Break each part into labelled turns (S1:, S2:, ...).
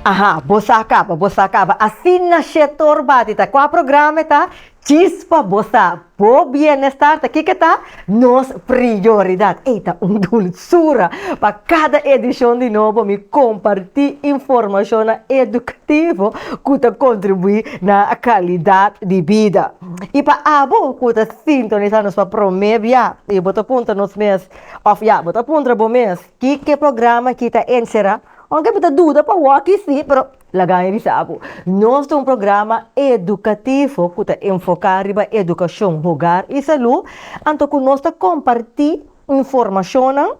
S1: Aha, bo sa kaba, bo sa kaba. Asina Shetor bati ta. Kua programa e ta? Chispa bo sa. Bo bienestar ta kiko e ta? Nos prioridad. Ey ta un dulsura. Pa cada edicion di Nobo mi comparti informacionnan educativo cu ta contribui na calidad di bida. Y pa abo cu ta sintonisa nos pa prome bia y bo ta puntra nos mes of ya bo ta puntra bo mes kiko e programa aki ta encera? Oca bo ta duda pa wokkie si, pero laga e bisa abu. Nos ta un programa educativo cu ta enfoca riba educacion hogar y salud, anto cu nos ta comparti informacionnan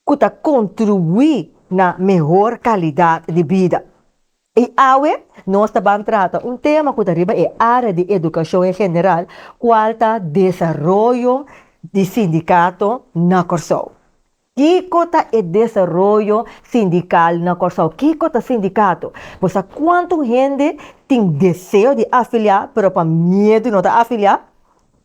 S1: cu ta contribui na mehor calidad di bida. Y awe nos ta ban trata un tema cu ta riba e area di educacion en general, cual ta desaroyo di sindicato na Corsou. Kiko ta e desaroyo sindikal na Kòrsou? Kiko ta sindikato? Bo sa kuantu hende tin deseo di afiliá pero pa miedu no ta afiliá?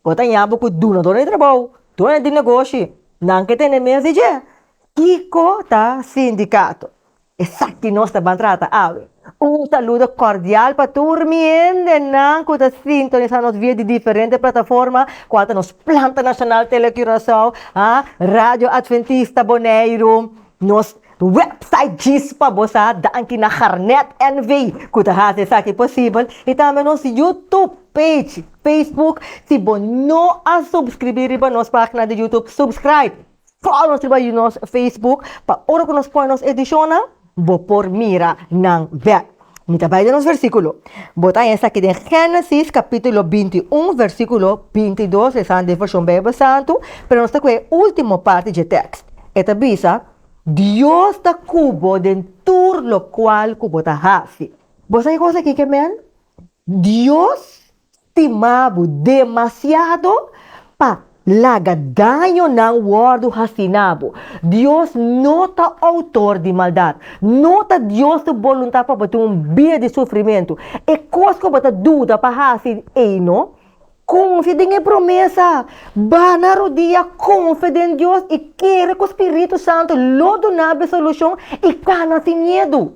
S1: Bo ta ña bo ku dunador di trabou, dueño di negoshi, nan ke tene mes di dje? Kiko ta sindikato? Esaki nos ta ban trata awe. Un saludo cordial pa tur mi hendenan cu ta sintonisa nos via di diferente plataforma cual ta nos planta nacional Tele Curaçao, ah, Radio Adventista Boneiru, nos website Djis pa bo sa, danki na Garnet NV cu ta haci esaki posibel, y tambe nos YouTube page, Facebook, si bo no a subscribi riba nos pagina di YouTube, subscribe! Follow nos riba nos Facebook pa ora cu nos pone nos edicionnan bo por mira nan bek. Mi ta bay den nos versiculo. Bo ta haya esaki den Genesis capitulo binti un versiculo binti dos, esnan den version Bijbel Santu, pero nos ta cu e ultimo parti dje tekst. E ta bisa, Dios ta cu bo den tur locual cu bo ta haci. Bo sa ki cosa aki ke men? Dios Stima bo demasiado pa laga dañonan wòrdu hasí na bo. Dios no ta outor di maldat. No ta Dios su boluntat pa bo tin un bida di sufrimentu. E kos ku bo ta duda pa hasi ei no. Konfia den e promesa. Bana rodia, konfia den Dios i kere ku spiritu santu lo duna'b e solushon i kana sin miedu.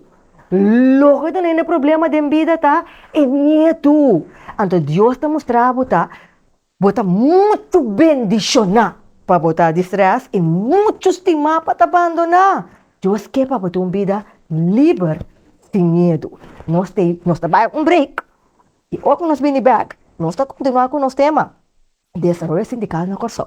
S1: Loke ta lei na problema den bida ta e miedu. Anto Dios ta mustra bo ta bo ta muchu bendishoná pa bo ta distrés i muchu stimá pa ta bandoná. Dios ke pa bo ta un bida liber sin miedu. Nos ta nos ta bai un break i ora ku nos bini bèk nos ta kontinuá ku nos tema, Desaroyo Sindikal na Kòrsou.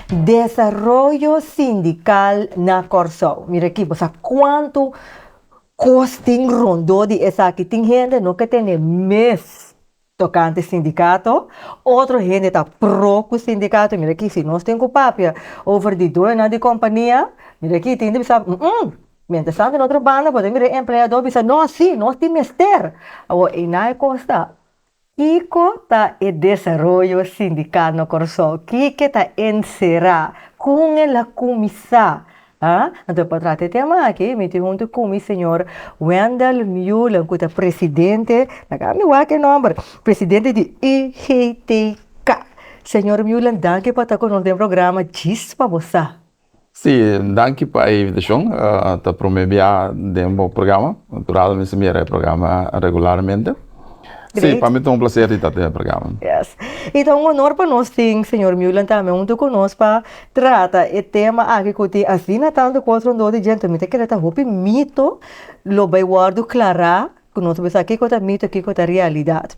S1: Desaroyo sindikal na Kòrsou. Mira aki, bo sa kuantu kos tin rondó di esaki. Tin hende no ke tene mes tokante sindikato, otro hende ta pro ku sindikato. Mira aki, si nos tin ku papia over di dueñonan di kompania, mira aki tin di bisa humm, mientestant den otro banda bo ta mira e empleadó bisa no, sí, nos tin mester. Awor, einan e kos ta. Kiko ta e desaroyo sindikal na Kòrsou? Kiko ta e nserá? Kon el a kuminsá? A Anto pa trata e tema aki mi tin huntu ku mi señor Wendell Mulen ku ta presidente, ta kaminda mi wak e nòmber, presidente di UGTK. Señor Mulen danki pa ta ku nos den programa Djis pa bo sa. Sí,
S2: danki pa e invitashon. Ta promé biaha den bo programa. Natural mi mira e programa regularmente. Sí, pa mi ta un plaser di ta den e programa. Yes. I ta
S1: un onor pa nos tin señor Meulen tambe huntu ku nos pa trata e tema aki ku tin asina tantu kos rondó di djente. Mi ta kere ta hopi mito lo bai wòrdu klará ku nos bisa kiko ta mito, kiko ta realidat.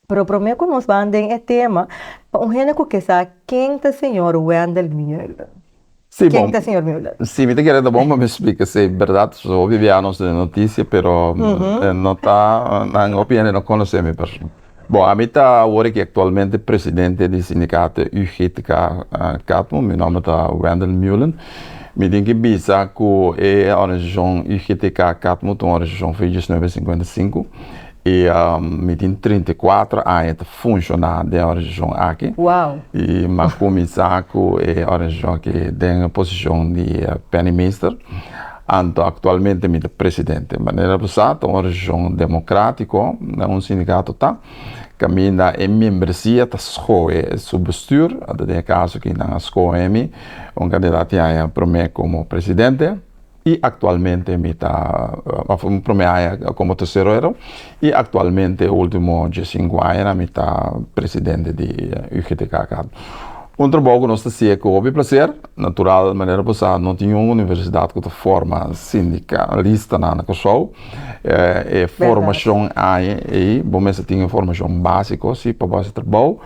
S1: Pero prome ku nos ban den e tema, pa un hende ku ke sa ken ta señor Wendell Mueller? Si bon. Ken
S2: ta señor Mueller?
S1: Si mi ta kere ta bon pa
S2: mi splika si e bèrdat, pasobra hopi bia nos ta den notisia pero no ta nan hopi hende no konosé mi persona. Bon ami ta awor aki aktualmente presidente di sindikato UGTK Katmon, mi nòmber ta Wendell Mueller. Mi tin ki bisa ku e organisashon UGTK Katmon ta un organisashon fin di diesnuebe singkuenta sinku. E mi tin trinta i kuater aña ta funshoná den e organisashon aki. I mi
S1: a kuminsá
S2: ku e organisashon aki den e posishon di Penny Meester. Anto aktualmente mi ta presidente. Manera bo sa, ta un organisashon demokratiko, no un sindikato ta. Kaminda e membresia ta skohe su bestuur. Anto den e kaso ku nan a skohe mi, un kandidat tin haña promé komo presidente. y actualmente mi ta mi prome aña como tesorero y actualmente ultimo die sinku aña mi ta presidente di UGTK aca un trabou cu nos ta siye cu hopi placer natural manera bo sa no tin un universidad cu ta forma sindicalistanan na Kòrsou e formacion aña ey bo mester tin e formacion basico si pa bo haci trabou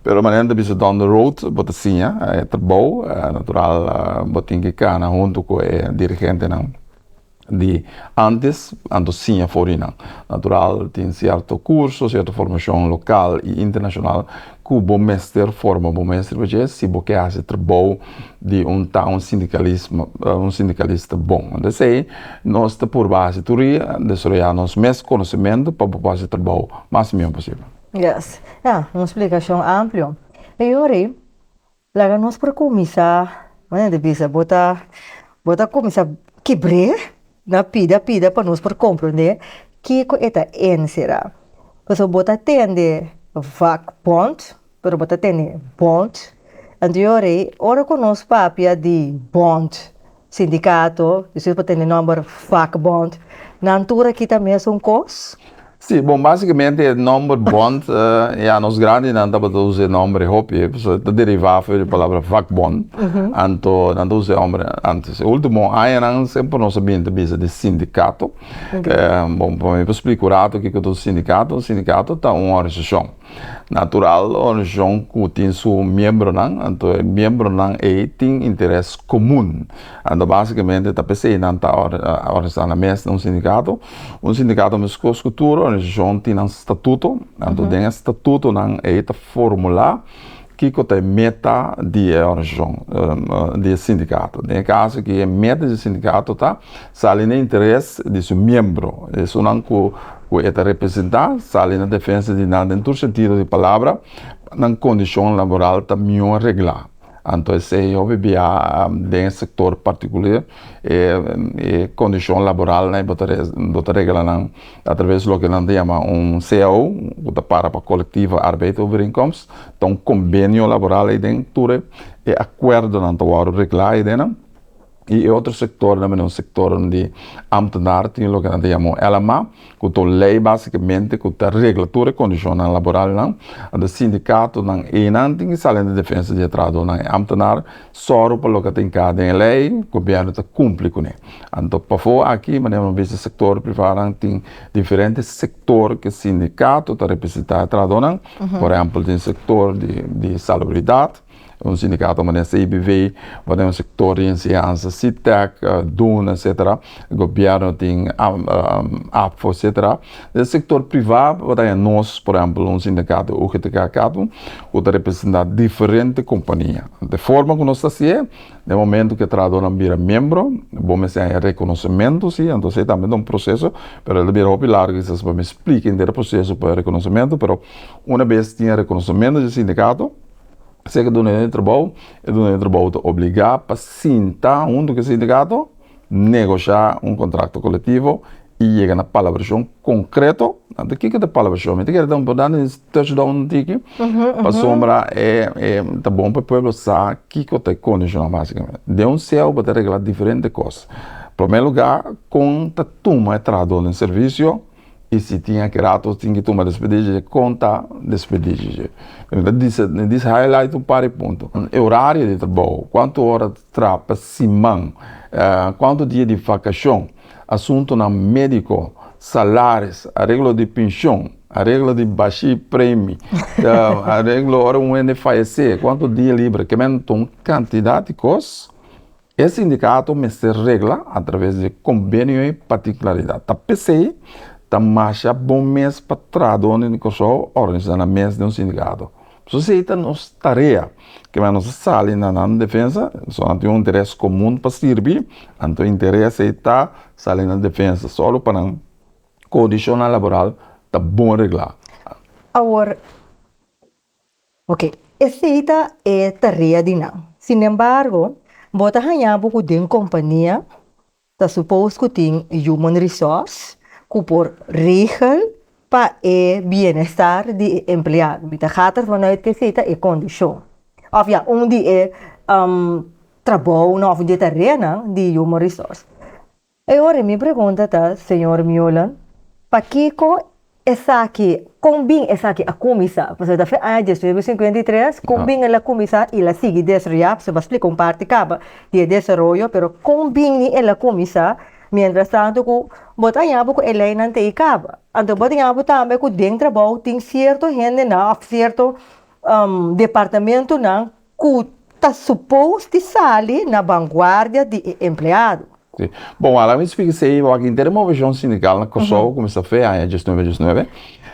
S2: Pero manera nan ta bisa down the road bo ta siña e trabou, natural bo tin ke kana huntu ku e dirigentenan di antes, anto siña for di nan. Natural tin sierto kurso, sierto formashon lokal i internashonal ku bo mester forma bo mes riba dje si bo ke hasi trabou di un ta un sindikalismo un sindikalista bon. Anto esei nos ta purba hasi tur dia, desaroyá nos mes konosementu pa bo por hasi trabou mas mihó posibel. Yes. Ya,
S1: un splikashon amplio. E yori, laga nos por kuminsá bueno di bisa bo ta bo ta kuminsá kebr'é na pida pida pa nos por komprendé kiko e ta enserá. Pasobra bo ta tende vakbond, pero bo ta tende bond. Anto yori, ora ku nos papia di bond Sindicato, despues por tene nomber vakbond, nan tur aki ta mesun kos? Si, bon
S2: basicamente e nomber bond, ya nos grandinan tabata usa e nomber hopi, pasobra ta deriva afo di e palabra vakbond, anto nan ta usa e nomber antes. E ultimo añanan semper nos a bini ta bisa di sindicato, bon pa mi por splik un ratu kiko ta un sindicato, un sindicato ta un organisashon. Natural, organisashon ku tin su miembronan, anto e miembronan ei tin interes komun. Anto basikamente ta p'esei nan ta organisá nan mes na un sindikato. Un sindikato meskos ku tur organisashon tin nan statuto, anto den e statutonan ei ta formulá kiko ta e meta di e organisashon, di e sindikato. Den e kaso aki e meta di e sindikato ta. Sali na interes di su miembro. Esunnan ku e ta representá sali na defensa di nan den tur sentido di palabra pa nan kondishon laboral ta mihó reglá. Anto esei hopi bia den e sektor partikuler e kondishon laboral nan bo ta regla nan atraves loke nan ta yama un cao ku ta para pa kolektiva arbeid overeenkomst. Ta un kombenio laboral ei den tur e akuerdonan ta wòrdu reglá ei den nan. Y e otro sectornan bini un sectornan di ambtenaar, tin loke nan ta yama un LMA, cu ta un ley basicamente cu ta regla tur e condicionnan laboralnan. Anto e sindicatonan eynan tin ki sali na defensa di e trahadornan, e ambtenaar, soro pa loke ta inca den e ley, gobierno ta cumpli cune. Anto pafo aki, manera nos bisti sector privanan tin diferente sector cu e sindicato ta representa e trahadornan, por ehempel tin sector di salubridad, un sindikato manera CIBV bo den un sektor di enseñansa CTEC, duna etsetera gobièrnu tin apfo etsetera den sektor privá bo ta haña nos por ehempel un sindikato UGTK Catu ku ta representá diferente kompania de forma ku nos ta hasié den momento ku e trahadónan bira miembro bo mester haña rekonosementu si entonse e tambe ta un proseso pero el ta bira hopi largu kisas pa mi splika henter e proseso pa e rekonosementu pero una bes tin e rekonosementu di e sindikato. K'se ke duna e trabou, e duna e trabou ta obligá pa sinta huntu ku e sindikato, negoshiá un kontrakto kolektivo i yega na palabrashon konkreto. Anto kiko ta e palabrashon? Mi ta kere por dandi un touchdown un tiki pasobra e ta bon pa e pueblo sa kiko ta e kondishonnan basikamente. Den un seo bo ta reglá diferente kos. Promé lugá kon ta tuma e trahadó den servisio. Y si tin aki rato tin ki tuma despedije dje conta despedije dje. Mi ta disa mi disa highlight un par di punto. E horario di trabou, cuanto hora ta tra pa siman, cuanto dia di vacacion, asuntonan medico, salaris, areglo di pincion, areglo di bashi premi, areglo ora un hende fayece cuanto dia libre, kimentan un cantidad di cos E sindikato mester regla a traves di kombenio ei pa tin klaridat. Ta p'esei ta masha bon mes pa trahadónen di Kòrsou òrganisá nan mes den un sindikato. Pasobra si ei ta nos tarea, kiman nos a sali na nan defensa, so nan tin un interes komun pa sirbi, anto e interes ei ta sali na defensa solo pa nan kondishonnan laboral ta bon reglá. Awor.
S1: Ok, esei ta e tarea di nan. Sinembargo, bo ta haña bo ku den kompania ta supos ku tin human resource ku por regel pa e bienestar di e empleado. Mi ta gata vanuit kesei ta e kondishon òf ya un di e trabounan òf un di e tareanan di human resource. E ora mi pregunta ta, Señor Miolen, pakico esaki, con bin esaki a cuminsa? Pasobra ta fe aña diesmil cu cincuenta y tres, con bin el a cuminsa y el a sigui desroya? Pasobra bo a splica un parti caba di e desaroyo, pero con bini el a cuminsa? Mientras tanto cu bo ta yaña bo cu e leynan ta e caba. Anto bo ta yaña bo tambe cu den trabou tin cierto hendenan of cierto departamentonan ku ta supos di sali na banguardia di e empleado. Si. Bon, a
S2: la mes fika esei e wak inter e moveshon sindikal na Kòrsou kuminsá fe aña dies nuebe dies nuebe.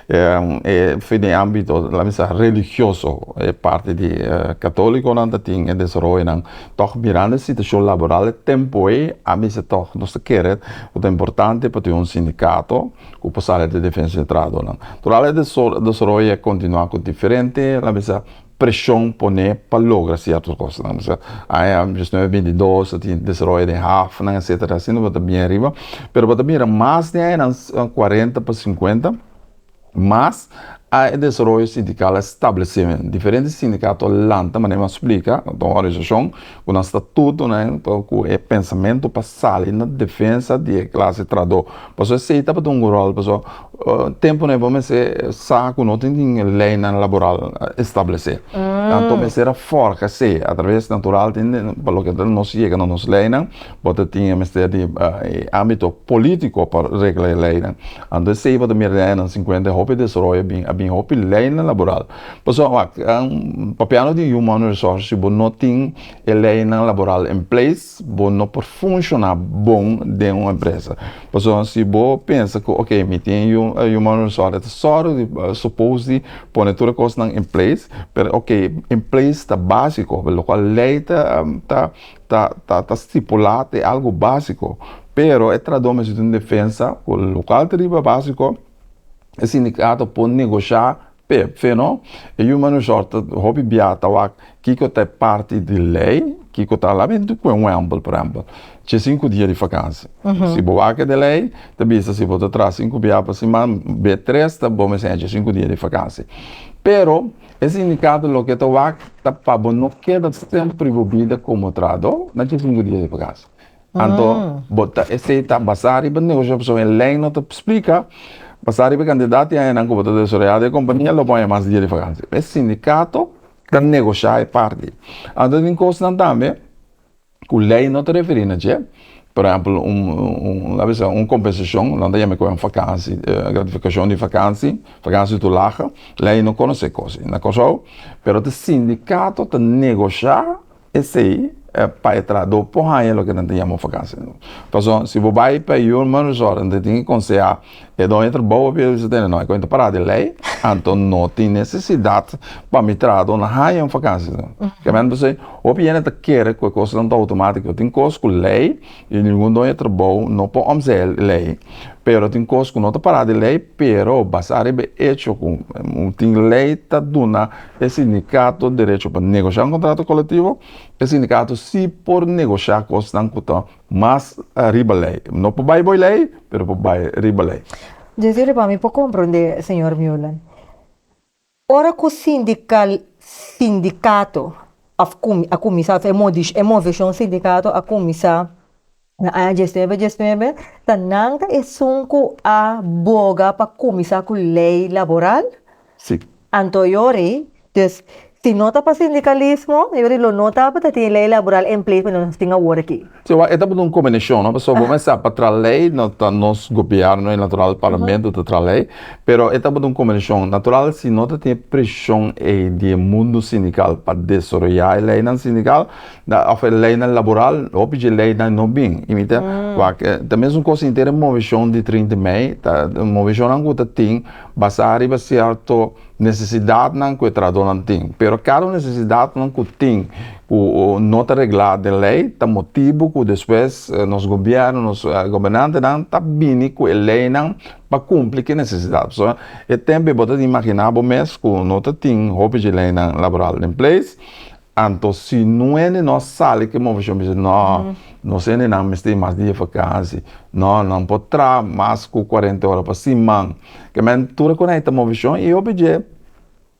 S2: E fe den ámbito lamentsa religioso. E parti di katólikonan ta tin e desaroyonan. Tòg mirando e situashon laboral e tempu ei, a bisa tòg nos ta kere ku ta importante pa tin un sindikato ku por sali di Defensa di Trabahadornan. Tur al e desaroyo a kontinuá ku diferente lamentsa. preshon poné pa logra sierto kosnan no ser aya nos nueve binti dos ta tin desaroya den hafnan etsetera asi no bata bien riba pero bata mira mas den añanan cuarenta pa cincuenta mas a e desaroyo sindikal a establesé men diferente sindikato a lanta manera mi a splika organisashon Ku nan sta tutu nan pa ku e pensamentu pa sali na defensa di e klase traadó. Paso esei tabata un ròl paso tempunan e bo mester sa ku no tin tin leinan laboral establesé. Anto mester a forja esei atraves natural tin den pa loke ta nos yega na nos leinan bo ta tin e mester di e ámbito polítiko pa regla e leinan. Anto esei bo ta mira den añanan sinkuenta e hopi desaroyo a bin a bin hopi leinan laboral Pasobra wak, Papiando di Human Resources, si bo no tin e leynan laboral en place, bo no por funshoná bon den un empresa. Pasobra si bo pensa ku ok, mi tin Human Resources, e ta sòru di, supos di, pone tur e kosnan en place, pero ok, en place ta básiko, lokual lei ta ta ta ta stipulá ta e algu básiko, pero e trahadó mester tin un defensa ku lokual ta riba básiko, e sindicato por negoshá Pe fe no, e yu mano short ta hopi bia ta wak kiko ta e parti di lei, kiko ta labi ntu kue un wembel por ehempel ce sinku dia di fakansi. Si bo wak e de lei ta bisa si bo ta traha sinku bia pa siman be tres ta bo mester ce sinku dia di fakansi. Pero e sindikato loke ta wak ta pa bo no keda sempri bo bida komo trahador na ce sinku dia di fakansi. Anto bo ta esei ta basá riba negoshi pasobra e lei no ta splika basá riba e kantidad di añanan ku bo ta desaroyá den e kompania lo bo haña mas dia di vakansia. E sindikato ta negoshá e parti. Anto tin kosnan tambe ku lei no ta referí na dje, por ehèmpel un laga bisa un kompensashon nan ta yama ku vakansi gratifikashon di vakansi, vakansi tu laha, lei no konosé kos ei na Kòrsou pero ta sindikato ta negoshá. Esei pa e trahadó por haña loke nan ta yama un fakansia. Pasobra si bo bai pa e human resort nan ta tin ke konsehá e doño trabou p'e bisa tene, no, e kuenta pará di lei, anto no tin nesesidat pa mi trahadó na haña un fakansia. Kem'e nan ta hos'e? Hopi hende ta kere ku e kosnan ta outomátiko. Tin kos ku lei. Y ningun doño trabou no por omzea e ley, pero tin cos cu no ta para di ley, pero basá riba e hecho cu tin ley ta duna e sindicato derecho pa negociá un contrato colectivo, e sindicato sí por negociá cosnan cu ta mas riba ley, no por bay bo e ley, pero por bay riba ley. Djunsiones pa mi
S1: por comprendé, señor Meulen. Ora ku sindikal sindikato a kuminsá e moveshon sindikato a kuminsá na aña diesnuebe diesnuebe ta nan ta esun ku a boga pa kuminsá ku lei laboral? Sí.
S2: Anto yori
S1: dus si no ta pa sindikalismo yori lo no tabata tin lei laboral en place pa nos tin awor aki. Jehowa, e ta bata un
S2: kombinashon, no? Pasobra bo mester sa pa traha lei no ta nos gobièrnu, e natural parlamento ta traha lei, pero e ta bata un kombinashon. Natural si no ta tin e preshon ei di e mundu sindikal pa desaroyá e leinan sindikal òf e leinan laboral, hopi dje leinan no bin. I mi ta wak ta mesun kos inter e moveshon di trinta mei, ta moveshonnan ku ta tin basá riba sierto. Necesidadnan cu e trahadornan tin. Pero cada un necesidadnan cu tin cu no ta regla den ley ta motibo cu despues nos gobierno, nos gobernantenan ta bini cu e leynan pa cumpli cu e necesidad. Pasobra e tempo y bo ta imagina bo mes cu no ta tin hopi dje leynan laboral den place Anto si nuene nos sali ke moveshon bisa no nos hendenan mester e mas dia vakansi no nan por tra mas ku kuarente ora pa siman kemen tur a konekta moveshon i hopi dje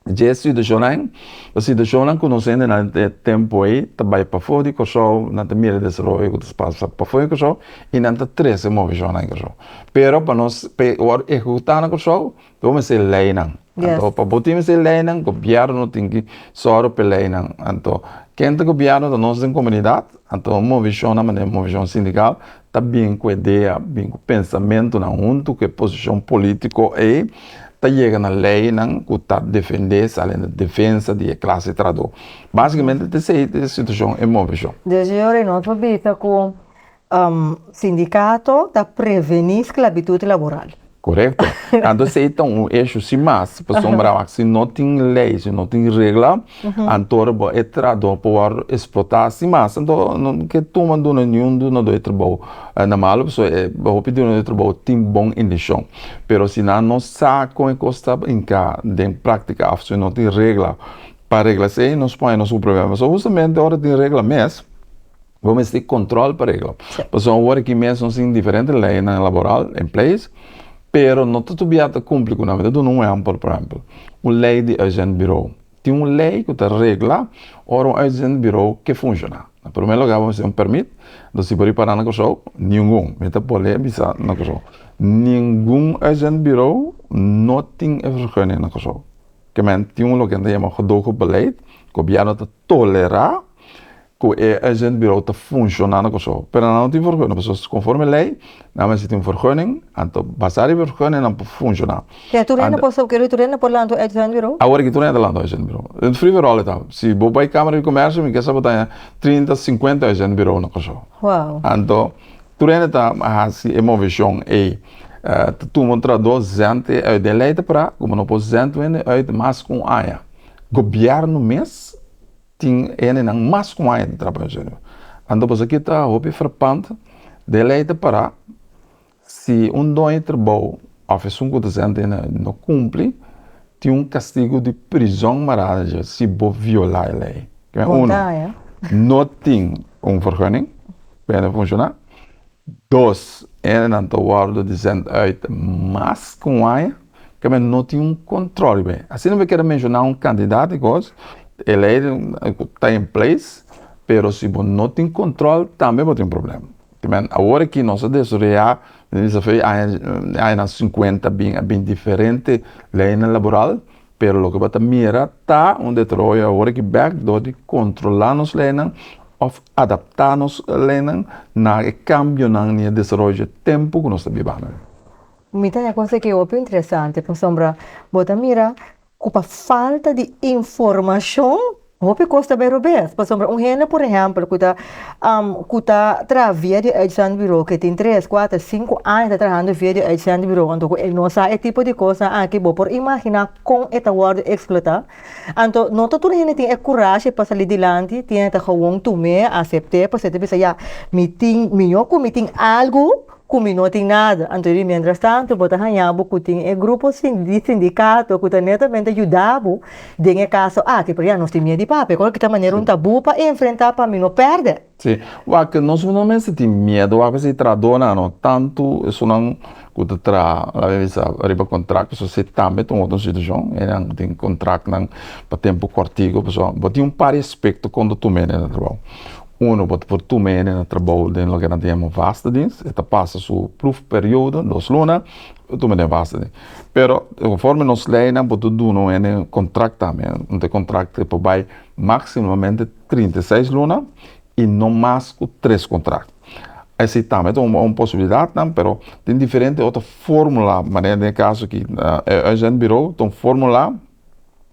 S2: dje situashonnan e situashonnan ku nos hendenan e tempu ei ta bai pafo di Kòrsou nan ta mira desaroyo ku ta pasa pafo di Kòrsou i nan ta trese moveshonnan Kòrsou pero pa nos pe wòrdu ehekutá na Kòrsou Bo mester tin leinan anto pa bo tin mester tin leinan gobierno tin ki sor p'e leinan anto ken ta gobierno ta nos den comunidad anto movicion nan manera movicion sindical ta bin cu idea bin cu pensamento nan hunto cu e posicion politico ei ta yega na ley nan cu ta defende sa ley nan defensa di e clase trahador basicamente ta esey ta e situacion e movicion. Di ayer nos a
S1: bisa cu Sindikato ta prevení sklabitut laboral. Korekto.
S2: Anto si ei ta un eshu si mas, pasobra wak si no tin lei, si no tin regla, anto bo e trahadó por wòrdu esplotá si mas. Anto no ke tuma duna niun dunadó e trabou na malu, pasobra e hopi dunadó e trabou tin bon inteshon. Pero si nan no sa kon e kos ta brinká den práktika òf si no tin regla pa regla esei, nos pone nos un problema. Pasobra hustamente ora tin regla mes, Bo mester control pa regla. Pasobra awor aki mes nos tin diferente leynan laboral en place, pero no ta tobia ta cumpli cu nan. Mi ta duna un ehempel, por ehempel, un ley di uitzendbureau. Tin un ley cu ta regla ora un uitzendbureau ke funciona. Na primer lugar bo mester un permit, entonces si bo riba para na Curaçao, ningun, mi ta bol'e bisa na Curaçao, ningun uitzendbureau no tin e vergunning na Curaçao. Ke men tin loke nan ta yama gedogebeleid, gobièrnu ta tolera ku e agent birou ta funshoná na Kòrsou, pero nan no tin vergunnin pasobra so konforme lei nan mester tin un vergunnin, anto basá di e vergunnin nan por funshoná. Ke tur hende por
S1: ke tur hende por lanta un agent birou? Awor aki tur hende ta lanta un agent
S2: birou. Den free for all e tabata. Si bo bai Kámara di Komèrsio mi ke sa bo ta haña trinta, sinkuenta agent birou na Kòrsou. Wou. Anto tur hende ta hasi e moveshon ei. Ta tuma un trahadó zènt e uit. Den lei ta pará ku bo no por zènt un hende uit mas ku un aña. Gobièrnu mes. Tin hendenan mas ku aña ta trabá den Señor. Anto bosoki ta hopi frapant den lei ta pará si un doño trabou of esun ku ta senta den lei no kumpli tin un kastigu di prizon marada dje si bo violá e lei. Uno no tin un vergunning pa hende funshoná. Dos hendenan ta wòrdu di sènt uit mas ku un aña. Ke men no tin un control riba e. Asina mi keda menciona un candidat di cos e ley cu ta en place pero si bo no tin control tambe bo tin problema tin men awor aki nos a desarrolla desafio di aña nan cincuenta bin a bin diferente leynan laboral pero loke bo ta mira ta un deteroyo awor aki bek door di controla nos leynan of adapta nos leynan na e cambionan ni e desaroyo tempo cu nos ta biba awe. Mi ta ya
S1: kos aki hopi interesante pasobra bo ta mira ku pa falta di informashon hopi kos ta bero bes pasobra un hende por ehèmpel ku ta ku ta traha via di uitzendburo ku e tin tres kuater sinku aña ta trahando via di uitzendburo anto ku e no sa e tipo di kosnan aki bo por imaginá kon e ta wòrdu eksplotá anto no ta tur hende tin e kurashi pa sali dilanti tin hende ta gowon tum'é asept'é pasobra e ta bisa ya mi tin mi yo ku mi tin algu Cu mi no tin nada. Anto di mientrastanto bo ta haña bo cu tin e grupo di sindicato cu ta netamente yuda bo den e caso aki. Pero ya, nos tin miedo di papia. Cu lo kita manera un tabú pa enfrenta pa mi no perde? Sí. Wak,
S2: nos no mester tin miedo wak pasobra e trahadonan no, tanto esunnan cu ta traha, la mi a bisa, riba contracto, so esei tambe ta un otro situacion. Enan tin contractnan pa tempo cortico. Pasobra bo tin un par di aspecto con ta tuma enen na trabao. Uno bo ta por tur mene na trabou den loke nan ta yama vasta dienst. E ta pasa su pruf periodo, dos luna, bo tur mene den vasta dienst. Pero konforme nos leinan bo ta duna mene un kontrakt tambe. Un ta e kontrakt ke por bai maksimamente trinta i seis luna i no mas ku tres kontrakt. Esei tambe ta un posibilidat nan pero tin diferente otro fórmula manera den e kaso aki e Uitzendbureau ta un fórmula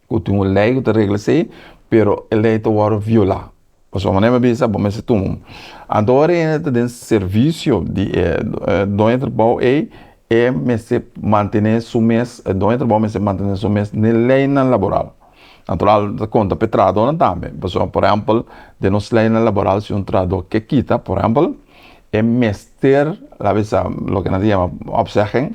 S2: ku tin un lei ku ta regla esei pero e lei ta wòrdu violá. Pasobra mane'e mi a bisa, bo mester tuma un. Anto ora e hende ta den servisio di e doño trabou ei, e mester mantené su mes, e doño trabou mester mantené su mes n'e leinan laboral. Natural ta konta p'e trahadónan tambe, pasobra por ehèmpel den nos leinan laboral si un trahadó ke kita, por ehèmpel, E mester la bisa loke nan ta yama opzegging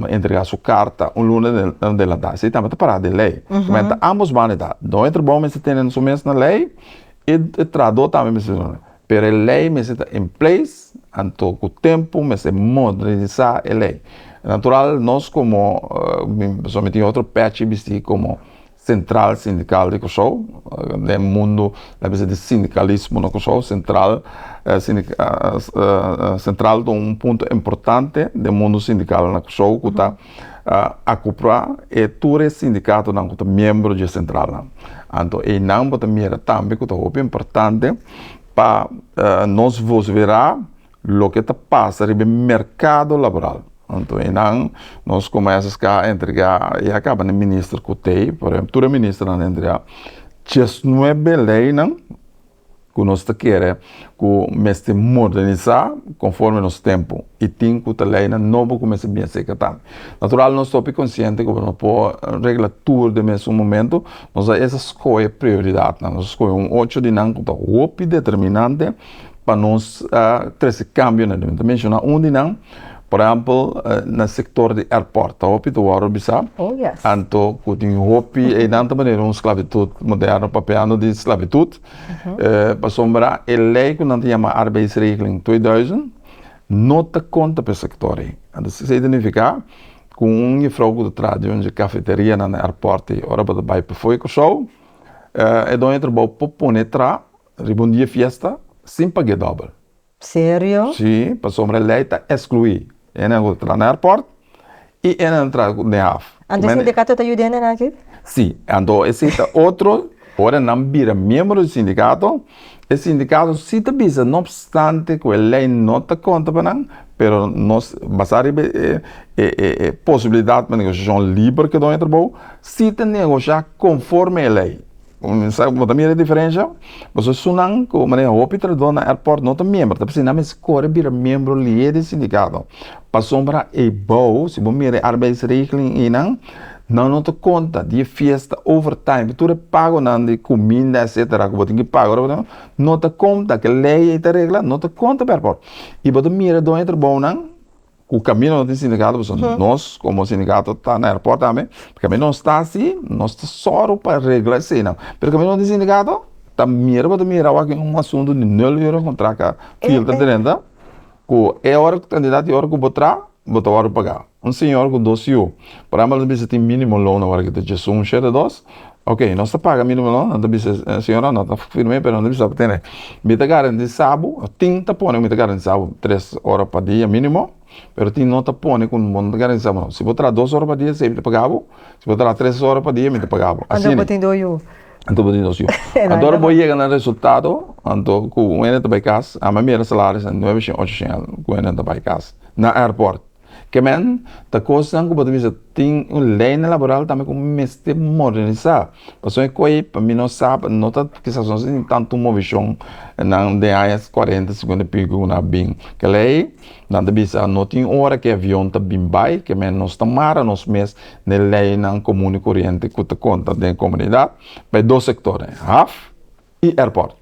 S2: entrega su karta un luna delantá. Esei tambe ta pará den lei. Kumenta ambos banda ta dor e trabou mester tene su mes na lei i e trahadó tambe mester tene su mes na lei. Pero e lei mester ta in place anto ku tempu mester modernisá e lei. Natural nos komo mi persona mi tin otro pèchi bistí komo Central Sindical di Kòrsou, den mundo a bisa di sindikalismo na Kòrsou, sentral sentral ta un punto importante den mundo sindikal na Kòrsou ku ta akupla e tur e sindikatonan ku ta miembro dje sentralnan. Anto einan bo ta mira tambe ku ta hopi importante pa nos vos wera Loke ta pasa riba e merkado laboral. Anto einan nos komo SSK a entregá, i a kaba na minister ku tei, por e tur e ministernan ta entregá chesnuebe leinan ku nos ta kere ku mester modernisá konforme nos tempu i tin ku ta leinan nobo ku mester bini a serka tambe. Natural nos ta hopi konsiente ku pa nos por regla tur den mesun momentu nos a esa skohe prioridatnan, nos a skohe un ocho di nan ku ta hopi determinante, pa nos ta trese kambio na dor. Mi ta menshona un di nan, por ehèmpel, na sektor di èrpòrt. Ta hopi ta wòrdu orbisá. Oh, yes. Anto
S1: ku tin
S2: hopi einan ta manera un sklabitut moderno, papeando di sklabitut. Pasobra e lei ku nan ta yama Arbeidsregeling twee duizend no ta konta pa e sektor ei. Anto esei ta nifiká ku un jefrou ku ta traha di un di e kafeterianan na èrpòrt ei, ora bo ta bai pafó di Kòrsou, e doño di trabou por pone traha Riba un dia fiesta sin pag'é dòbel. Serio?
S1: Sí, pasobra
S2: e lei ta eskluí e nan ku ta traha na airport i e nan traha den haf. Anto e sindikato ta
S1: yuda e nan aki? Sí, anto
S2: e sinta otro, ora nan bira miembro di sindikato, e sindikato sí ta bisa no obstante ku e lei no ta konta pa nan, pero nos basá riba e posibilidat pa negosiashon liber ke dòño di trabou, sí ta negoshá konforme e lei. Bo ta mira e diferensha? Pasobra esunnan ku manera hopi trabahador na airport no ta miembro ta p'esei nan mester kore bira miembro lier di sindikato pasobra e bou si bo mira e arbeidsregeling einan nan no ta konta di e fiesta overtime di tur e pagonan di kuminda etsetera ku bo tin ki paga ora bo ta no ta konta kel lei ei ta regla no ta konta pa airport i bo ta mira doño trabounan Cu camino no tin sindicato pasobra uh-huh nos como sindicato ta na airport tambe pe camino nos ta asi nos ta soro pa regla esena pero camino no tin sindicato ta mira bo ta mira awor aki un asunto di nul ura bo tra ca fil ta drenta cu e ora cantidad di ora cu bo tra bo ta worde paga un señor cu dos yiu por ejemplo lo ta bisa tin minimo loan awor aki ta djesun shete dos Oke nos ta paga minimo no nan ta bisa siñora no ta firme pero nan ta bisa tene mi ta garanti sabu tin ta pone ku mi ta garanti sabu tres ora pa dia minimo pero tin no ta pone ku bo no ta garanti sabu no si bo traha dos ora pa dia esei mi ta paga bo si bo traha tres ora pa dia mi ta paga bo asi anto bo tin dos yu
S1: anto bo tin dos yu
S2: anto bo yega na resultado anto ku wende ta bai kas a manera salaris nueve shen ocho shen ku wende ta bai kas na airport. Kemen ta kosnan ku bo ta bisa tin un ley na laboral tambe ku mester modernisá, pasobra e koe pa mi no sa pa no ta kisas no ta tin tantu movishon nan den aña kuarenta sikuenta y piko ku nan a bin keley nan ta bisa no tin ora ke avion ta bin bai kemen nos ta mara nos mes na e leynan komun i koriente ku ta konta den komunidat pa e dos sektornan haf. y airport.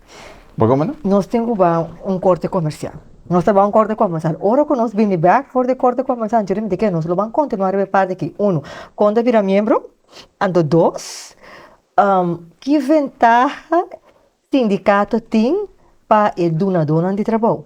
S2: Pa como no? Nos tin cu ba
S1: un corte comercial. Nos ta ba un corte comercial. Ora cu nos bini bek for di e corte comercial anto remite ke? Nos lo ban continua riba e parte aki. Uno, con ta bira miembro. Anto dos, ki ventaha sindicato tin pa e dunadonan di trabou?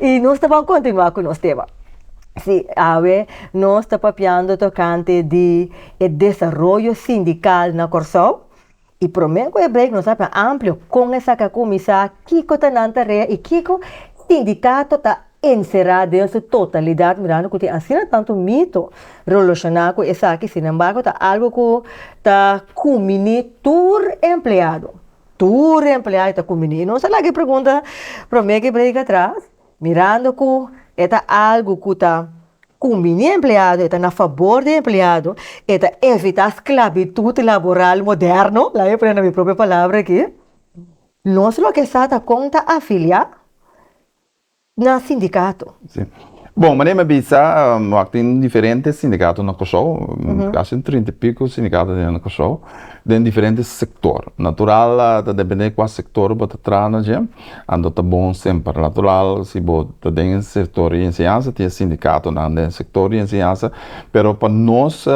S1: Y nos ta por continua cu nos tema. Sí, awe nos ta papiando tocante di e desaroyo sindical na Corsou. Y promer cu e break nos a habla amplio con e sa ca cuminsa, kico ta nan tarea y kico sindicato ta encera den su totalidad, mirando cu tin asina tanto mito roloshona cu esaki. Sin embargo, ta algo cu ta cumini tur empleado. Tur e empleayo ta kuminí. I nos a laga e pregunta promé ke brega atras, mirando ku e ta algu ku ta kuminí e empleado, e ta na fabor di e empleado, e ta evitá sklabitut laboral moderno, laga mi pone na mi propio palabra akí. Nos lo ke sa ta kon ta afiliá. na sindicato. Si.
S2: Bon, manera mi a bisa, wak tin diferente sindicato na Kòrsou, kasi un trinta i piku sindicato den Kòrsou, den diferente sektor. Natural ta dependé kua sektor bo ta traha na dje, anto ta bon semper. Natural si bo ta den sektor di enseñansa tin e sindikatonan den sektor di enseñansa, pero pa nos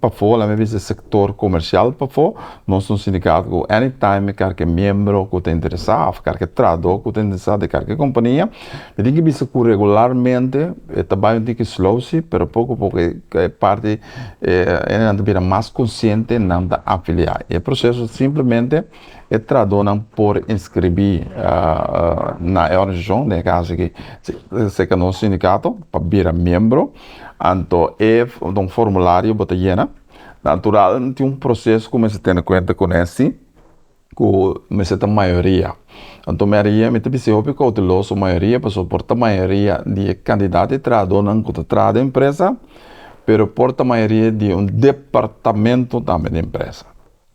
S2: pafó, laga mi bisa sektor komersial pafó. Nos ta un sindicato cu anytime mi carke miembro cu ta interesa of carke trahador cu ta interesa di carke compania mi tin ki bisa cu regularmente e ta bay un tiki slowsi pero poco poco e parti e nan ta bira mas consciente nan ta afilia y e proceso simplemente e trahador nan por inscribi na e organizacion den e caso aki seca nos sindicato pa bira miembro anto e ta un formulario bo ta yena. Natural tin un proseso ku mester tene kuenta ku nèsti ku mester ta mayoria anto mayoria mi ta bisa e hopi kouteloso mayoria pasobra por ta mayoria di e kandidat di trahadónan ku ta traha den presa pero por ta mayoria di un departamento tambe den presa.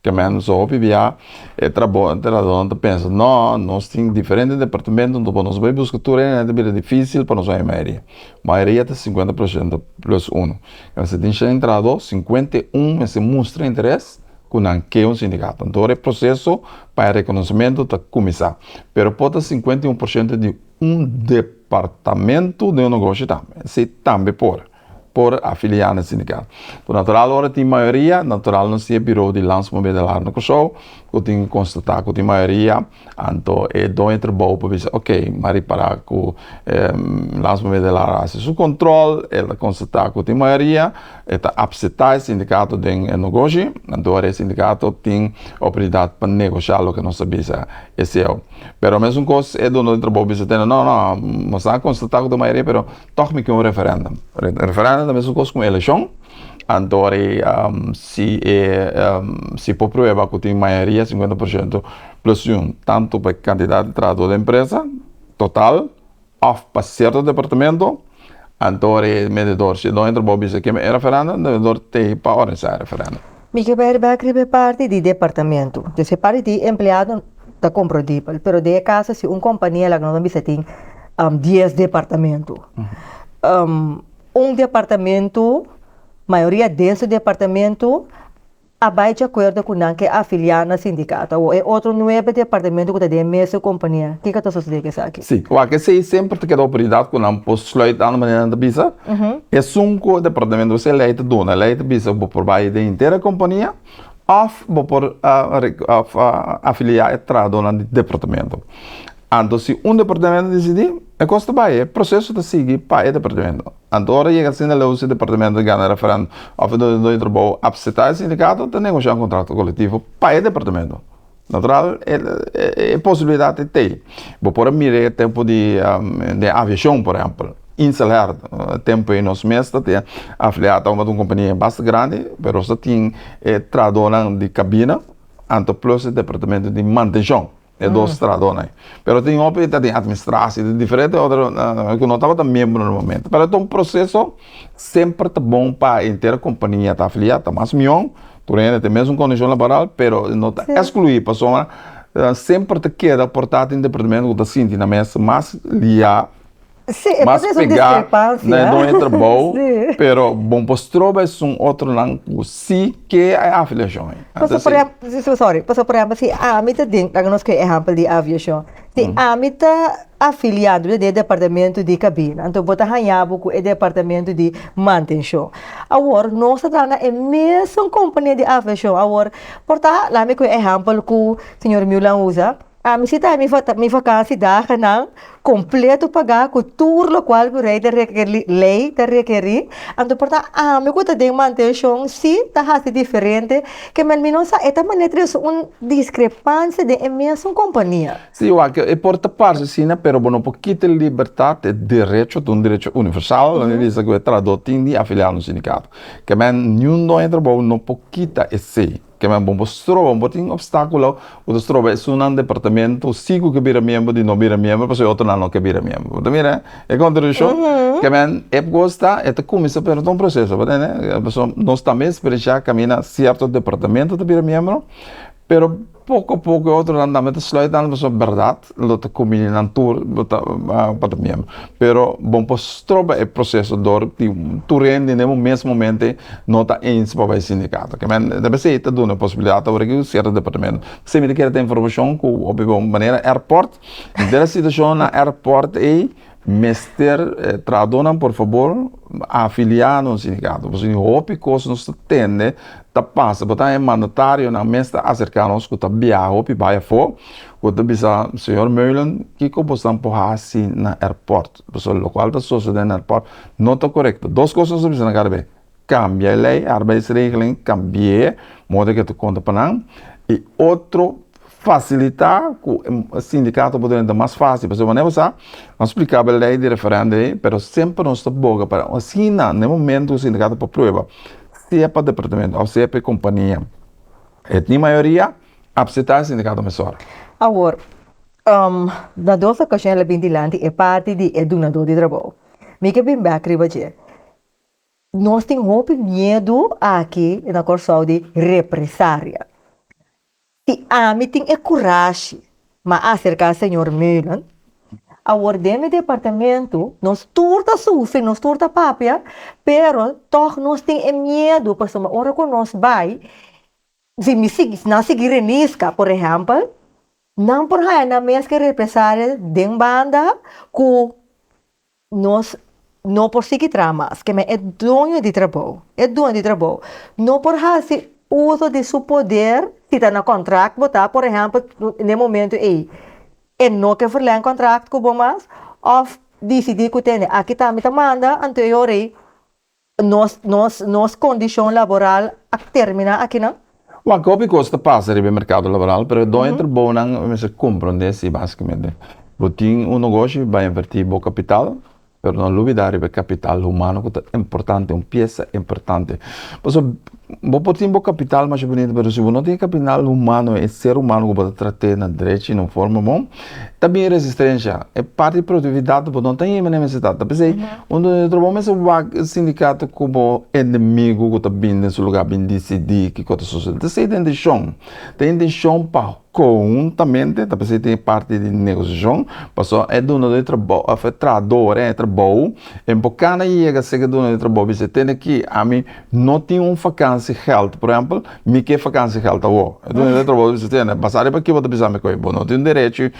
S2: Te mèndusu hopi biaha e trabònteradónan ta pensa, Nò, nos tin diferente departamentu, anto por nos bai buska tur hende, nan ta bira difísil pa nos oja mayoria. Mayoria ta sinkuenta por shento plùs unu. Kaminda si tin shen trahadó, sinkuenta i un mester mustra interes ku nan ke un sindikato. Anto ora e proseso pa e rekonosementu ta kuminsá. Pero por ta sinkuenta i un por shento di un departamentu den un negoshi tambe. Esei tambe por. por afilia na e sindicato. Por natural ora tin mayoria natural nos tin e biro di landsmobedelar na Kòrsou ku tin konstata ku tin mayoria anto e doño trabou por bisa ok m'a ripara ku e landsmobedelar a hasi su kontrol e ta konstata ku tin mayoria e ta apsetá e sindicato den e nogoshi anto ora e sindicato tin oportunidat pa negoshá loke nos ta bisa eseo pero mesun kos e doño di trabou bisa tene no no mos a konstata ku tin mayoria pero Tòg mi ke un referèndum. Referèndum ta mesmu kos ku un elekshon. Anto ora ei si e si por prueba ku tin mayoria sinkuenta por siento plos yun tantu pa e kantidat di trabahador di empresa total òf pa sierto departamento anto ora ei e medidor si e dueño di trabou bisa keme e referèndum e medidor tei pa òrganisá e referèndum. Mi ke ber bek
S1: riba e parti di departamentu. Des e parti di empleado ta komprodibel, pero den e kaso si un kompania laga nos a bisa tin dies departamentu. Un departamentu, mayoria den su departamentu a bai djakuerdo ku nan ke a afiliá na sindikato. Awor e otro nuebe departamentu ku ta den e mes kompania, kiko ta sosodé ku esaki? Sí, wak esei semper
S2: ta keda oportunidat ku nan por sluit dando manera nan ta bisa. Esun ku e departamento esei lei ta duna. Lei ta bisa bo por bai den henter e kompania òf bo por afilia e trahadónan di departamento. Anto si un departamento disidí, e kos ta bai, e proseso ta sigui pa e departamento. Anto ora yega asinta leu si e departamento a gana referendum òf e dueño di trabou apseptá e sindikato ta negoshiá un kontrato kolektivo pa e departamento. Natural e posibilidat e t'ei. Bo por a mira e tempu di den aviashon por ehèmpel, Inselair e tempu ei nos mes ta tin afiliá ta un kompania basta grandi pero nos ta tin e trahadónan di kabina anto plus e departamentu di mantenshon e dos trahadónan ei pero tin hopi e ta den atministrashi tin diferente otro ku no tabata miembro na e momento pero ta un proseso semper ta bon pa e entera kompania ta afiliá ta mas mion Tur e hende ta e mesun kondishon laboral, pero e no ta eskluí pasobra nan semper ta keda por ta den departamento ku ta sinti nan mester mas liá, mas
S1: pegá
S2: na e doño
S1: trabou,
S2: pero bon pa stroba esun otronan ku si ke e afiliashon ei.
S1: Pasobra, sorry, pasobra por ehèmpel si ami ta den, laga nos koge e ehèmpel di aviashon. Si ami ta afiliado den e departamento di cabina, enton bo ta haña bo cu e departamento di mantencion. Awor nos ta traha na e mesun compania di aviacion, awor por ta, laat mi cu e ehempel cu señor Milan usa, ami si ta mi ta mi vakantie dagennan completo paga cu tur locual cu rey ta requeri ley ta requeri, enton por ta ami cu ta den mantencion si ta haci diferente Keme al minos sa e ta manera ta yoso un discrepancia den e mesun compania. Si, wak, e por
S2: ta parse asina, pero bo no por kita e libertad, e derecho, ta un derecho universal, lo mi bisa cu e trahador tin di afiliado na un sindicato. Keme niun doño trabou no por kita esey. Keme bo no por stroba, no por tin obstaculo. Bo ta stroba esunnan departamento si cu ke bira miembro di no bira miembro pasobra e otronan no ke bira miembro. Bo ta mira e contradiccion? Ke men e por cos ta e ta cuminsa pero ta un proceso, bo ta ende? Pasobra nos tambe experiencia caminda cierto departamento ta bira miembro pero poco a poco e otronan tambe ta sluit nan pasobra berdad. Lo ta combini nan tur pa ta miembro pero bon por stroba e proceso door tin tur hende ne un mes momente no ta eens pa bay sindicato ke men ta esey ta duna posibilidad awor aki cierto departamento esey mi ta kere ta informacion cu hopi bo manera airport dera situacion na airport ey mester trahador nan por favor afilia na un sindicato pasobra hopi cos nos ta tende ta pasa bo ta e mandatario nan mes ta acerca nos cu ta biaha hopi bay afo. Bo ta bisa, Señor Meulen, kiko bosnan por hasi na airport? Pasobra lokual ta sosodé na airport no ta korekto. Dos kos nos a bisa nan kada bes, kambia e lei, arbeidsregeling, kambi'é modo di ke ta konta pa nan, i otro fasilitá ku e sindikato por drenta mas fásil. Pasobra manera bo sa, nos splikaba e lei di referendo ei, pero semper nos ta boga pa asina na e momentu ku sindikato por prueba, sea pa departamento òf sea pa e kompania, e tin mayoria A pseta e sindikato mesora. Awor,
S1: na dos okashon el a bin dilanti e parti di e dunadó di trabou. Mi ke bin bèk riba dje. Nos tin hopi miedu aki na Kòrsou di represaria. Si ami tin e kurashi m'a aserká señor Meulen, awor den mi departamentu nos tur ta sufri, nos tur ta papia, pero tòg nos tin e miedu pasobra ora ku nos bai, Si mi sigui, nan sigui reniska, por ehèmpel, nan por haña nan meskere represalia den banda ku nos no por sigui traha mas. Ke men e doño di trabou, e doño di trabou no por hasi uso di su poder, si ta na kòntrak bo ta, por ehèmpel, den momentu ei e no ke verlèn kòntrak ku bo mas òf disidí ku tende aki ta mi ta manda, anto e ora ei Nos nos nos kondishon laboral a terminá aki nan? Wak hopi kos
S2: ta pasa riba e merkado laboral pero e doño trabounan mester komprondé si basikamente bo tin un nogoshi bai invertí bo kapital pero no lubidá riba e kapital humano ku ta importante un piesa importante pasobra Bo por tin bo kapital masha bunita pero si bo no tin e kapital humano e ser humano ku bo ta trat'é na drechi na forma bon ta bin resistensha e parti di produktividat bo no ta yeme na mesa ta ta p'esei un dueño di trabou mester wak e sindikato ku bo enemigu ku ta bin den su lugá bin disidi kiko ta sosodé ta ser e dentishon ta intishon pa Kohuntamente ta p'esei tin e parti di negosiashon, paso e duno di trabou, òf e trahador en e trabou, e por kanda e yega seg e duno di trabou bisa, Tene ki, ami no tin un fakansiegèld, por ehèmpel, mi ke fakansiegèld awor. E dueño di e trabou ta bisa, Tene, basá riba ki bo ta bisa mi kohe, bo no tin un derechi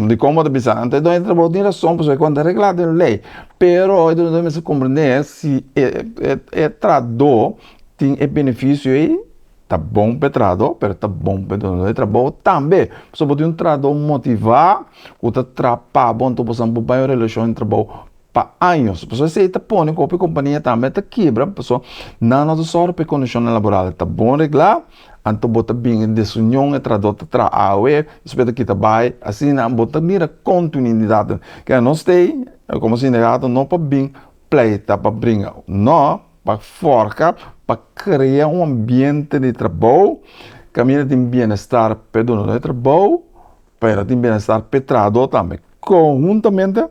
S2: di kon bo ta bisa. Enton e dueño di trabou tin rason pasobra e konta reglá den lei. Pero e duno di trabou mester komprendé si e trahador tin e benefisio ei. Ta bon p'e trahadó, pero ta bon p'e dono di trabou tambe. Pasobra bo tin un trahadó motivá ku ta traha pa bo, anto bo sabia bo bai un relashon di trabou pa años. Pasobra esei ta pone ku hopi kompania tambe ta kiebra pasobra nan no ta sòru p'e kondishonnan laboral. Ta bon reglá, anto bo ta bin e desunion e trahadó ta traha awe, despue ta kita bai. Asina bo ta mira kontuinidat. Nos t'ei, komo sindicato, no por bin pleita pa bringa. No. pa forca pa crea un ambiente di trabou caminda tin bienestar p'e dono de trabou pero tin bienestar p'e trahador tambe conhuntamente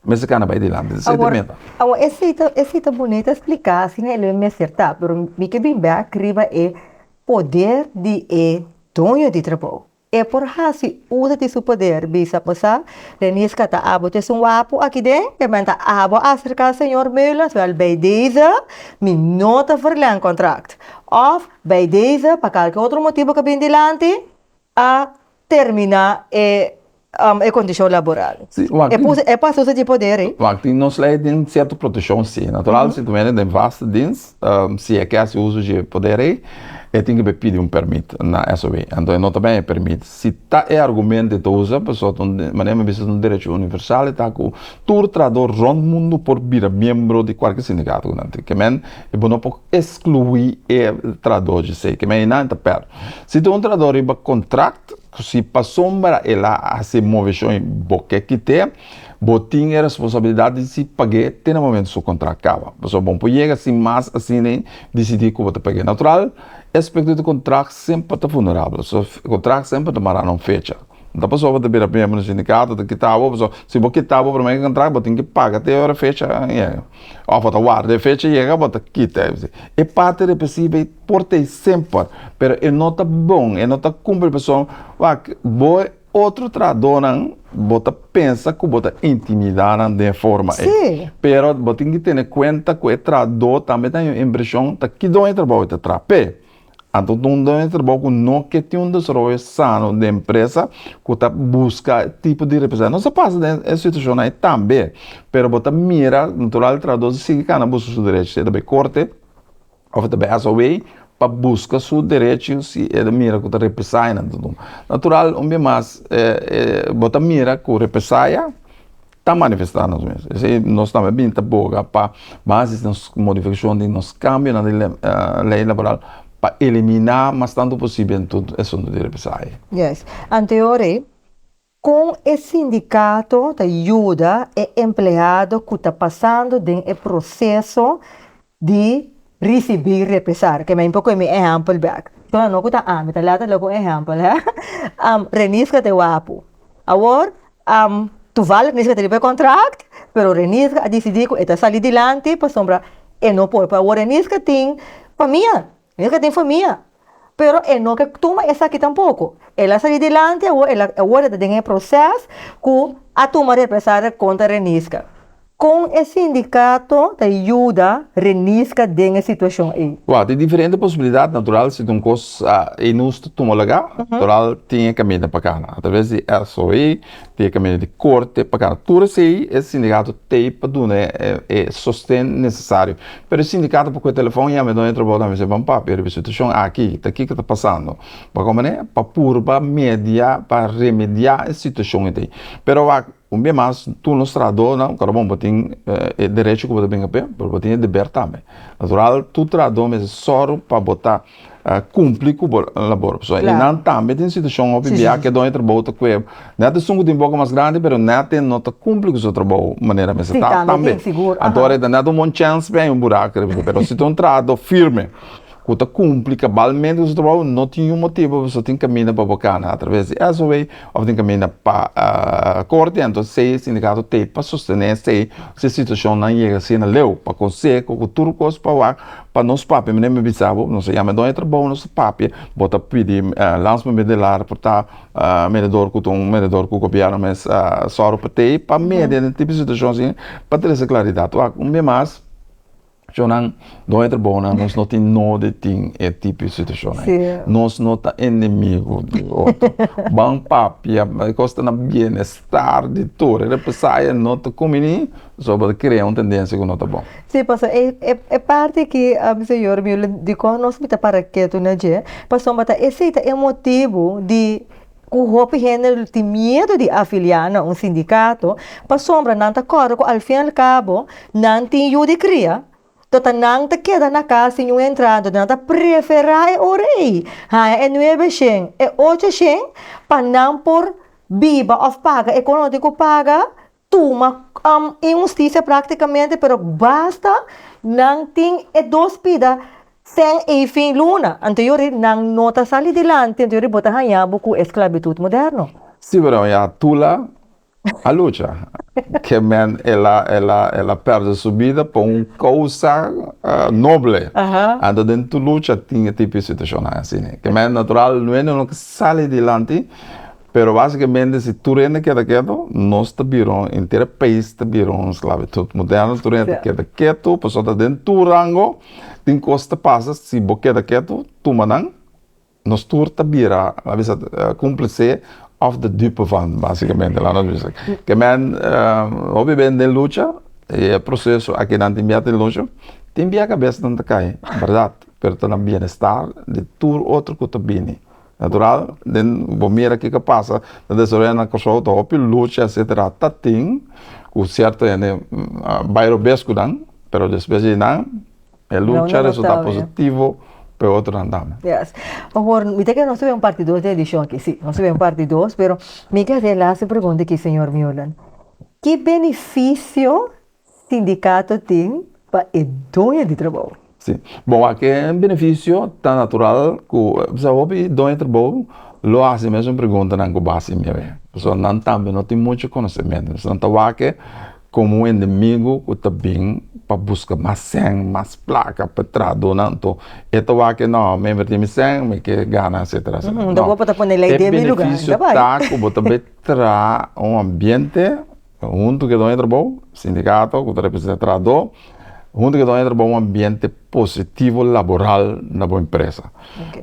S2: mester cana bai dilanti esey ta meta awa
S1: esey ta esey ta boni ta explica asina e lo e mester ta pero mi ke bimbe aki riba e poder di e doño di trabou. E por hasi usa di su poder bisa bo sa Denise ka ta abo c'es un wapu aki den e men ta abo acerca señor Meulens wel bij deze mi no ta verleng contract of bij deze pa kalke otro motibo ka bin dilanti a termina e e condicion laboral e por
S2: hasi usa
S1: di poder ey. Wak tin nos ley tin
S2: cierto proteccion si natural si ta wene den vast dienst. Si e ke hasi uso dje poder ei, e tin ke pidi un permit na SOB. Anto e no ta ben e permit. Si ta e argumento e ta usa, pasobra ta un, manera mi bisa ta un derecho universal, e ta ku tur trahador rond mundu por bira miembro di kualke sindikato ku nan tin. Kemen e bo no por eskluí e trahador dje sei. Kemen einan e ta pèrdè. Si ta un trahador riba kontrakt. Si pasobra el a hasi e moveshonnan bo ke kit'é, bo tin e responsabilidat di si pag'é te na momentu su kontrakt kaba. Pasobra bo no por yega sin mas asina i disidí ku bo ta pag'é. Natural, e aspekto di kontrakt semper ta vulnerabel. So, e kontrakt semper ta mará na un fecha. No ta pasobra ta bira miembro di un sindikato o ta kita bo, pasobra si bo kita bo promé kontrakt, bo tin ki paga te ora e fecha yega. Òf bo ta warda e fecha yega bo ta kita. E parti represivo ei. Por ta ei semper, pero e no ta bon, e no ta cumpli pasobra wak bo e otro trahadornan bo ta pensa cu bo ta intimida nan den e forma ei. Sí. Pero
S1: bo tin ki
S2: tene cuenta cu e trahador tambe ta haña impresion ta kido e trabou e ta traha p'e. Anto ta un dueño di trabou cu no ke tin un desaroyo sano den empresa cu ta busca e tipo di represalia. Nos a pasa den e situacionnan ei tambe, pero bo ta mira natural trahador si sigui cana busca su derecho, sea ta bay corte, Of e ta behas awei pa buska su derecho si e ta mira ku ta represaya nan ta duna. Natural un bia mas bo ta mira ku represaya ta manifesta nos mes. Esei nos tambe a bini ta boga pa basis nos modifikashon di nos kambionan di lei laboral pa eliminá mas tantu posibel tur asuntu di represaya. Yes.
S1: Anteor ei. Kon e sindikato ta yuda e empleado ku ta pasando den e proseso di risibí represalia? Ke mi a impo koe mi ehèmpel bèk. Kla, no ku ta ami, ta lèt ala ku un ehèmpel, hè. Am, Renisca ta e wapu. Awor, am, tuval Renisca ta riba e kòntrakt, pero Renisca a disidí ku e ta sali dilanti pasobra e no por. Pero awor Renisca tin famia. Mira ke tin famia. Pero e no ke tuma esaki tampoko. El a sali dilanti awor, el a, awor e ta den e proces ku a tuma represalia kontra Renisca. Kon e sindicato ta yuda Renisca den e situacion ei? Wou, tin diferente posibilidad,
S2: natural si ta un kos ei nos ta tuma laga, natural tin e caminda pa cana, a traves di SOE, Te kaminda di korte pa gana tur esei, e sindikato tei pa duna e sosten nesesario. Pero e sindikato por kue telefòn yama e doño di trabou dam i bisa, Ban papia riba e situashon aki, ta kiko ta pasando. Bo a kome manera pa purba media pa remediá e situashon etei. Pero awor un bia mas, tur nos trahadónan, kòrda bon, bo tin e derecho ku bo ta bin kapé, pero bo tin e deber tambe. Natural, tur trahadó mester sòru pa bo ta. kumpli ku bo labor pasobra e nan tambe tin situashon hopi bia ke done trabou ta kue ne ta sun ku tin boka mas grandi pero nete no ta kumpli ku su trabou manera meseta tambe anto e ta nete un bon chèns p'e un burak riba su pero si ta un trato firme ku ta kumpli kabalmente ku su trabou no tin yun motibu paso tin kaminda pa bo kana atraves di SOW òf tin kaminda pa korte anto esei sindikato tei pa sostene esei si e situashonnan yega asina leu pa konseho ku tur kos pa wak Pa nos papia mi me bisa bo nos a yama e don e trabou nos ta papia bo ta pidi lans me medio di lar por ta mededor ku ta un mededor ku gobièrnu mester sòru pa tei pa media den tipo di situashon asin pa trese klaridat wak un bia mas shonnan don e trabou nan nos no tin nodi tin e tipo di situashonnan nos no ta enemigu di otro ban papia kos ta na bienes. Tardi tur e repesá e no ta kuminí zoba ta krea un tendensia ku no ta bon. Sí, pasobra e e
S1: e parti akí, ami señor mio, dikon nos mester para ketu na dje? Pasobra ta esei ta e motibu di ku hopi hende lo tin miedu di afiliá na un sindikato, pasobra nan ta kòrda ku al fin al kabo nan tin yu di kria, Toda nan ta keda na cas sin un entrada, nan ta prefera e ora ey haña e nuebe shen, e ocho shen pa nan por biba of paga e con lo tin cu paga, tuma inhusticia practicamente pero basta nan tin e dos pida shen ey fin luna anto yori nan no ta sali dilanti anto yori bo ta haña bo cu esclavitud moderno. Si bro, ya
S2: Tula A lucha. Ke men el a el a el a pèrdè su bida pa un kousa noble. Anto den tur lucha tin e tipo di situashonnan asina. Ke men natural no hende no ke sali dilanti, pero basikamente si tur hende keda ketu, nos ta bira un henter e pais ta bira un sklabitut moderno. Tur hende ta keda ketu pasobra den tur rango tin kos ta pasa si bo keda ketu tuma nan. Nos tur ta bira la bisa cúmplice of de dupe van, básicamente la nos bisa ke men hopi bende den lucha y e proceso a kinan tin bia tin lucha tin bia cabeza nan ta cay, berdad, pero ta na bienestar di tur otro cu ta bini, natural den bo mira kico a pasa ta desaroya na Kòrsou ta hopi lucha etcetera ta tin cu cierto hende bay robes cu nan pero despues di nan. E lucha resulta positivo pa e otro nan tambe. Yes. Awor,
S1: mi ta kere nos ta bay un parti dos di e edishon aki. Si, nos ta bay un parti dos, pero mi ke haci e laster pregunta aki, señor Meulen. Ki beneficio sindicato tin pa e doño di trabou? Si. Bon, aki
S2: e beneficio ta natural cu, pasobra hopi doño di trabou lo haci e mesun preguntanan cu base mia. Pasobra nan tambe no tin mucho conocemento. Nan ta wak e. Komo un enemigu ku ta bin pa buska mas sèn, mas plaka pa tra duna, anto e ta wak ke nò, mi a invertí mi sèn, mi ke gana etsetera etsetera. Nò,
S1: e benefisio ta ku bo
S2: ta bai tra un ambiente huntu ke done trabou, sindikato ku ta representá trahadó, huntu ke done trabou un ambiente positivo laboral na bo empresa.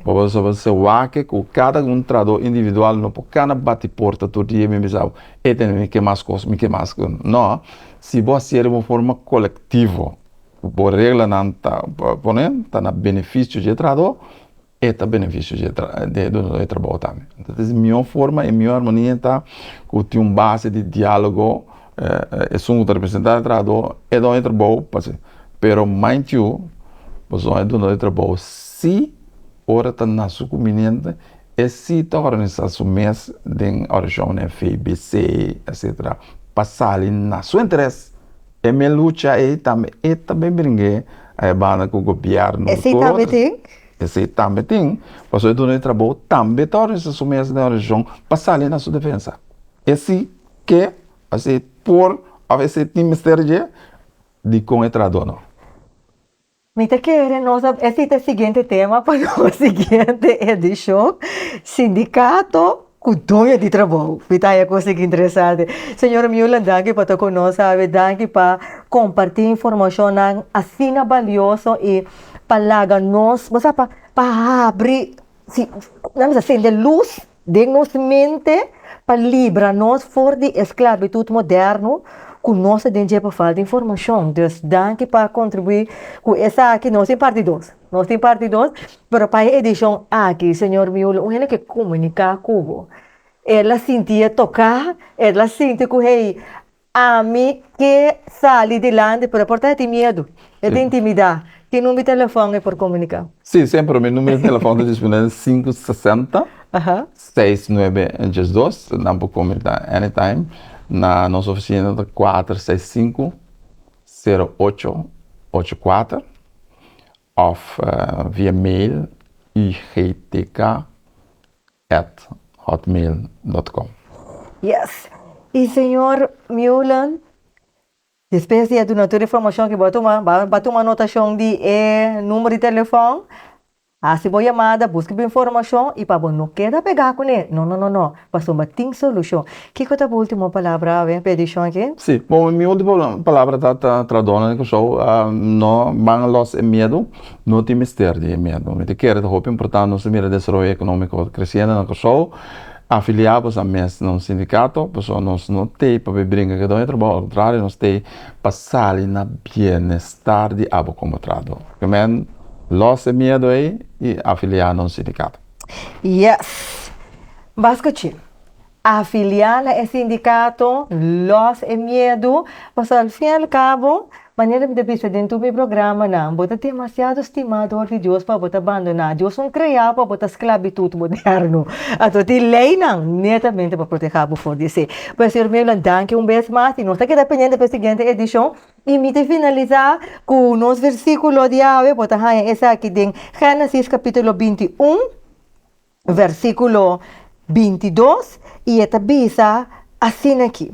S2: Pasobra se wak ke ku kada un trahadó individual no por kana bati porta tur dia i bin bisa bo E tene mi ke mas kos, mi ke mas kos. No. Si bo hacié den un forma colectivo, bo reglanan ta, pone, ta na beneficio dje trahadó, e ta beneficio dje dje dueño dje trabao tambe. Entonces mihó forma i mihó armonia ta ku tin un base di diálogo, esun ku ta representá e trahadó, e dueño dje trabao, p'hasi. Pero mind you, pasobra e dueño dje trabao si ora ta na su kuminente. E si ta organisá su mes den Orijón, FEBC, etc. Pa sali na su interes. E mes lucha ei tambe e ta bin bring'é a e banda ku gobièrnu. E si tambe tin?
S1: E si tambe
S2: tin, pasobra e Duna di Trabou tambe ta organisá su mes den Orijón pa sali na su defensa. E si ke, òf e si por, òf e si tin mester dje, dikon e traha Duna?
S1: Mi ta kere nos a esei ta e siguiente tema pa nos siguiente edishon, Sindikato ku doño di trabou. Mi ta haña kos aki interesante. Señora Meulen, danki pa ta ku nos awe. Danki pa kompartí informashonnan asina balioso i pa laga nos, bo sa, pa habri, nan bisa sende lus. den nos mente pa libra nos for di e sklabitut moderno ku nos ta den dje pa falta informashon. Dus danki pa kontribuí ku esaki. Nos tin parti dos, nos tin parti dos, pero pa e edishon aki señor Miula un hende ke komuniká ku bo el a sinti e toká, el a sinti ku hey Ami ke sali dilanti pero e por ta e tin miedu e ta intimida ki number di telefon e por komunika. Si semper mi numero
S2: di telefon ta dispone na sinku sesenta seis nuebe e djes dos nan por komunika anytime na nos ofisina ta kuater seis sinku sero ocho ocho kuater of via mail igtk. at hotmail dot com. Yes
S1: y señor Meulen despues di a duna tur e informacion que bo a tuma bou a tuma anotacion di e numero di telefon haci bo yamada busca bo informacion y pa bo no keda pega cu ne no no no no pasobra bo a tin solucion kico ta bo ultimo palabra awe pa e edicion aki? Si bo mi ultimo
S2: palabra ta ta traador nan di Curaçao no manga los e miedo. No tin mester di e miedu. Mi ta kere ta hopi importante nos ta mira desaroyo economico creciente na Kòrsou. Afilia bo sa mes na un sindicato, pasobra nos no t'ei pa bai brinca ke doño trabou, al contrario nos t'ei pa sali na bienestar di abo como trahador. Ke men lòs e miedu ei y afilia na un sindicato. Yes!
S1: B'as scuchi. Afiliá na e sindikato, lòs e miedu, pasobra al fin i al kabo, manera mi ta bisa den tur mi programanan, bo ta demasiado stimador di Dios pa bo ta bandoná Dios un kreá pa bo ta sklabitut moderno. Anto tin leinan netamente pa protehá bo for di esei. Pues señor mío, nan danki un bes mas i nos ta keda pendiente pa e siguiente edishon. I mi ta finalisá ku nos versíkulo di awe, bo ta haña esaki den Génesis kapítulo binti un, Versíkulo binti dos i e ta bisa asina aki,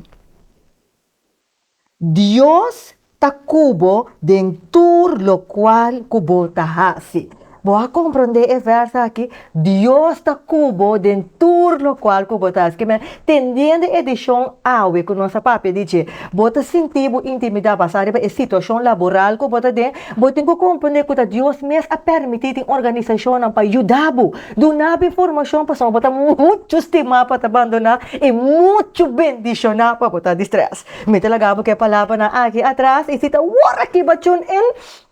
S1: Dios ta ku bo den tur lokual ku bo ta hasi. Bo a komprondé e vèrs aki? Dios ta ku bo den tur lokual ku bo ta hasi. Tendiendo edishon awe ku nos a papia di dje, bo ta sinti bo intimidá basá riba e situashon laboral ku bo ta den? Bo tin ku komprendé ku ta Dios mes a pèrmití tin organisashonnan pa yuda bo, duna bo informashon pasobra bo ta muchu stimá pa ta bandoná e muchu bendishoná pa bo ta di strès. Mi ta laga bo ku e palabranan aki atras i si ta wòrda kiba tune in.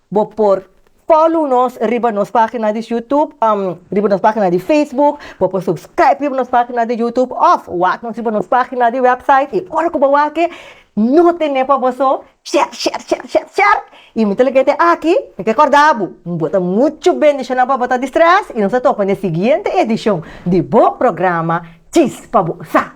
S1: Bo por follow nos riba nos pagina di YouTube, um riba nos pagina di Facebook, bo por subscribe riba nos pagina di YouTube of wak nos riba nos pagina di website y ora cu bo wak e no tene pa bo so sher sher sher sher sher y mi ta lika te aki mi ke corda bo mi bota mucho bendicionnan pa bo ta di stress y nos ta topa n'e siguiente edicion di bo programa Chispa Bo Sa.